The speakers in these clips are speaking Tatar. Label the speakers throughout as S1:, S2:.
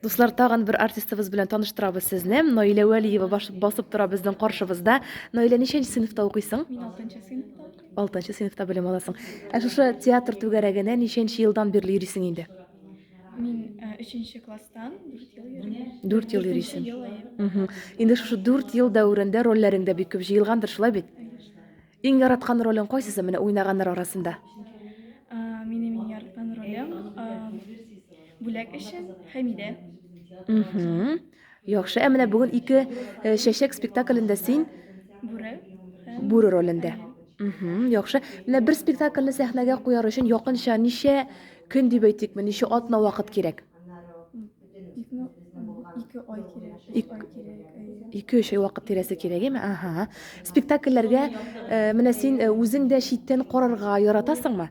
S1: Дуслар, тагын бер артистыбыз белән таныштырабыз сезне. Наилә Вәлиева басып тора безнең каршыбызда. Наилә, ничәнче сыйныфта укыйсың?
S2: Мин 6нчы сыйныфта. 6нчы сыйныфта белем
S1: аласың. Ә шушы театр түгәрәгенә ничәнче елдан бирле йөрисең инде? Мин
S2: 3нче э, класстан 4 ел йөрим. 4 ел йөрисең. Инде шушы
S1: 4 ел дәверендә рольләрең дә бик күп җыелгандыр, шулай бит? Иң
S2: яраткан
S1: ролең кайсысы менә уйнаганнар арасында?
S2: Минем иң яраткан ролем бүләк өчен Хәмидә.
S1: Яхшы, ә менә бүген ике э, чәчәк спектаклендә син Бүре.
S2: бүре
S1: ролендә. Яхшы. Менә бер спектакльне сәхнәгә куяр өчен якынча ничә көн дип әйтикме, ничә атна вакыт кирәк?
S2: Ике ай кирәк, өч
S1: ай
S2: кирәк. Ике өч ай вакыт тирәсе
S1: кирәк, әйме? Ага. Спектакльләргә э, менә син э, үзең дә читтән карарга яратасыңмы?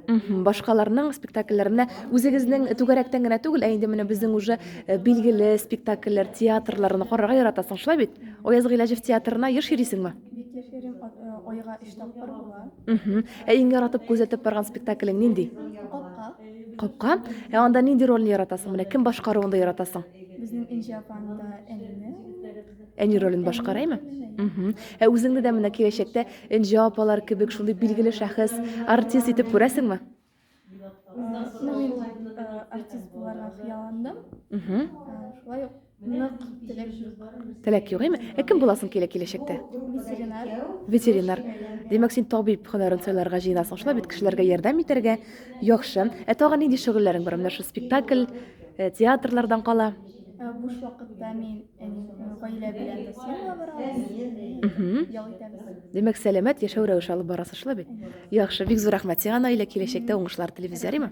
S2: Мхм, башкаларның
S1: спектакльләренә үзегезнең түгәрәктән генә түгел, ә инде менә безнең уже э, билгеле спектакльләр, театрларны карарга яратасың, шулай бит? Ояз Гыйләҗев театрына еш йөрисеңме? Бик
S2: яшерим, айга өч тапкыр була. Мхм. Ә иң
S1: яратып күзәтеп барган спектаклең нинди?
S2: Капка.
S1: Ә анда нинди рольне яратасың? Менә кем башкаруында яратасың? Безнең Энҗе
S2: апаны да әнине. Әни
S1: ролен башкара име? Мгм. Ә үзеңне дә менә киләчәктә Энҗе апалар кебек шундый билгеле шәхес, артист итеп күрәсеңме? Ну, мин э, артист
S2: буларга хыялландым. Мгм. Э, Шулай ук Нык теләк юк. Теләк юк, әйме? Ә кем
S1: буласың килә киләчәктә? Ветеринар.
S2: Ветеринар.
S1: Димәк, син табиб һөнәрен сайларга җыенасың шулай бит, кешеләргә ярдәм итәргә. Яхшы. Ә тагын нинди шөгыльләрең бар? Менә шул спектакль, э, театрлардан кала. Ә, Буш вакытта
S2: мин әни э, гаилә белән бассейнга барабыз. Мгм. Ял итәбез. Димәк, сәламәт яшәү
S1: рәвеше алып барасыз шулай бит? Яхшы, бик зур рәхмәт сиңа, Наилә, киләчәктә уңышлар телибез, ярыймы?